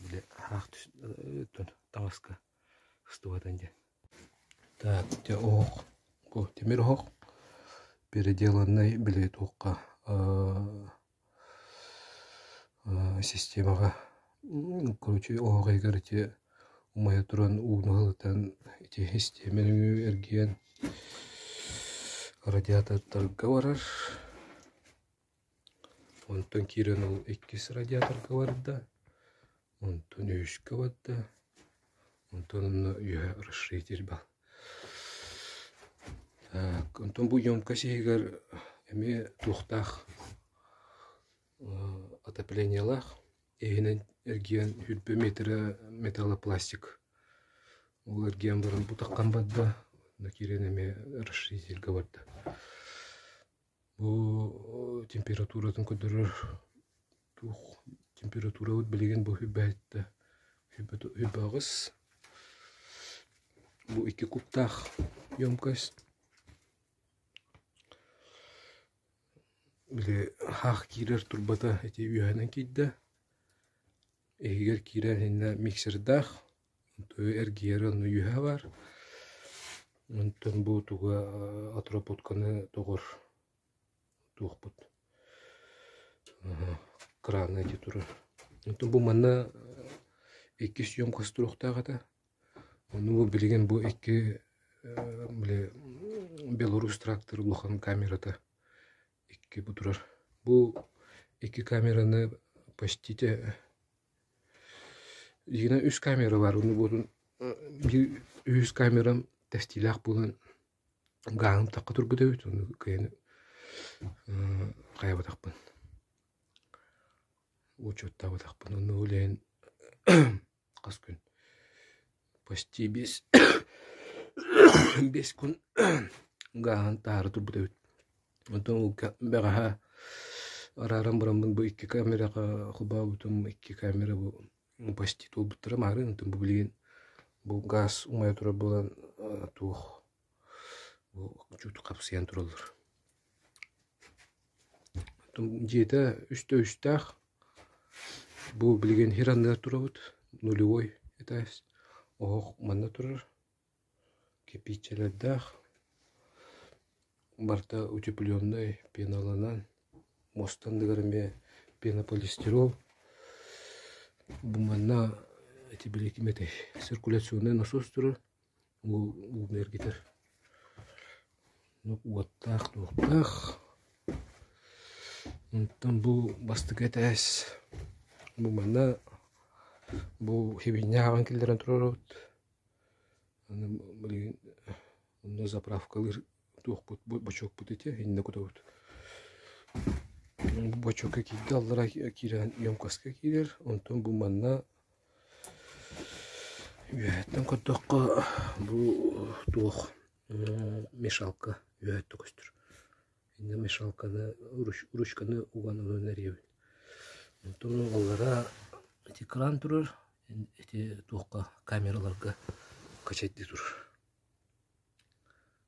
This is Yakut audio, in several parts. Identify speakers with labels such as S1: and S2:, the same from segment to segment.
S1: Били аһаах түс таҥаска ыстыбатан диэн. Так, дьэ оһох, тимир оһох переделаннай били туохха системаҕа короче оһох иһигэр ити умайа туран ууну ылытан ити систиэмэ нөҥүө эргийэн радиатордарга барар. Онтон киирэн ол иккис радиаторга барда, онтон үһүскэ барда, онтон онно үөһэ расширитель баар. Так, онтон бу емкость иһигэр эмиэ туохтаах отоплениелаах иһинэн эргийэн үрбэ метрэ металлопластик ол эргийэн баран бутаххан барда, онно киирэн эмиэ расширительгэ барда. Бу температуратын көрдөрөр туох температурабыт билигин бу үрбээт да үрбэҕэс бу икки куптаах емкость били аһаах киирэр турбата ити үөһэнэн киирдэ иһигэр киирэн иннэ миксердаах эргийэр ону үөһэ бар онтон буутуга отработканы доҕор туохпут краны эти турар онтон бу манна икки съемкасть туруохтаах этэ ону бу билигин бу икки били белорус трактор улахан камерата Икки бутурар. Бу икки камераны почтите итинэн үс камера баар онно буотун биир үһүс камерам тэстиилээх буолан гааһын тахха тургутабыт онно кыайан хайабатахпын учуоттаабатахпын онно ол иһин Хас күн? Почти бес бес күн гааһан таһаары турбут эбит. Онтон уолга бэҕэһээ арааран бараммын бу икки камераҕа холбообутум икки камера бу почти туолбуттара маһары онтон бу билигин бу гаас умайа турар буолан туох Учуутал хапсыйан тураллар. Дьиэтэ үстэ үстээх. Бу билигин иһэр анныгар турабыт. Нулевой этээс. Оһох манна турар. Кирпииччэлэрдээх. Барыта утепленнай пеналанан. Муоста анныгар эмиэ пенополистирол. Бу манна ити били ким этэй? Циркуляционнай насос турар. Уол ууну эргитэр. Уоттаах, туохтаах. Онтон бу бастакы этээс. Бу манна бу сибинньэ ааҕан киллэрэн туруоробут. Аны билигин онно заправкалыыр туохпут бочуокпут этэ иннэ кутабыт. Бочуокка киирдэ аллара киирэн емкаска киирэр. Онтон бу манна Үөһэттэн көрдөххө бу туох мешалка үөһэттэ көстөр. Инньэ мешалканы ручканы уган ылан эриэбин. Онтон угаллара ити кран турар, ити туохха камераларга качайдыы турар.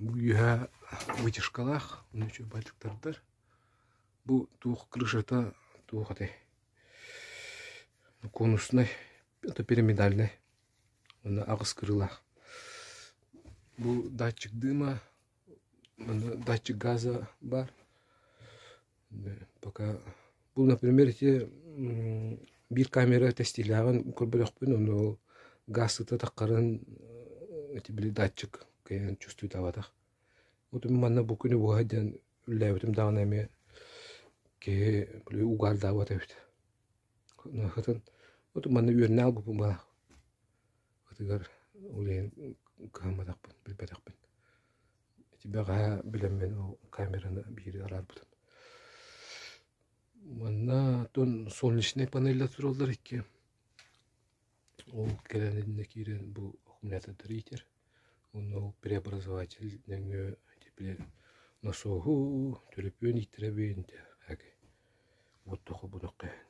S1: Үөһэ вытяжкалаах, ону үчүгэй байтыктардар. Бу туох крышата, туох этэй, конуснай, это пирамидальнай, уонна аҕыс кырыылаах. Бу датчик дыма, датчик газа баар. пока Бұл, например, ити биир камера тестилээҕин көрбөлөхпүн, ону ол гаас ыта таххарын ити били датчик кэйэн чувствуйтабатах. Утум манна бу күнү буга диэн үллээбитим даҕаны эмиэ киһи били угаалдаабат эбит. Хытын утум манна үөрнэ албыпым ба ытыгар ол иһин кыһамматахпын, билбэтэхпин. Бэҕэһээ билэммин ол камераны биири араарбытым. Манна отон солнечнай панеллар тураллар икки. Ол кэлэн иннэ киирэн бу аккумулятордары иитэр. Уонна ол преобразователь нөҥүө ити били носуоһу төлөпүөн ииттэрэбин диэххэ буттахха бунахха иһин.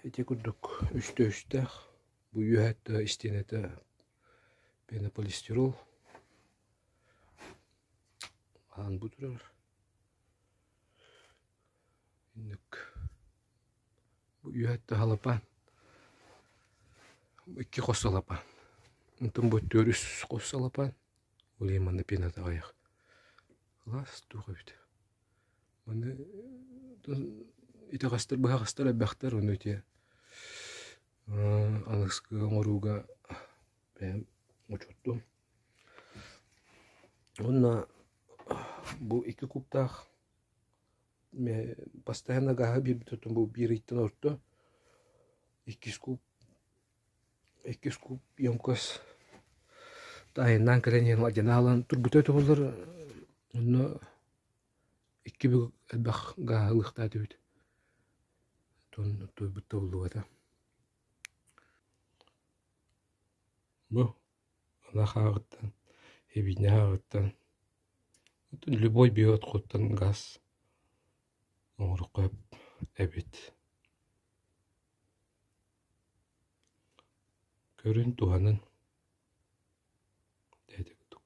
S1: Ити курдук үстэ үстээх Бу үөһэттэ истиэнэтэ пенополистирол аһаан бу турар. Инник бу үөһэттэ халапаан икки хос салапаан. Антон бу түөр үс хос салапаан. Улейманы пенata аяқ. Класс туха бит. Маны итэ хастар быһа хастар эбэхтер ону те Алыскы оҥорууга бэйэм учуттум. Уонна бу икки куттаах бастайан агаһы биэрбит отум бу биир ыйтан орто, иккис кууп иккис кууп емкость таайыннаан кэлэн иһэн алдьанаалаан турбута туһуллар. Онно Икки бүк элбэх гааһы ылыахтаат эбит онно туойбут табыллыбата бу алаах ааҕыттан эбиинэ ааҕыттан любой биэ отхуттан гаас оҥоруохха эбит көрүн туһанан тээтэ курдук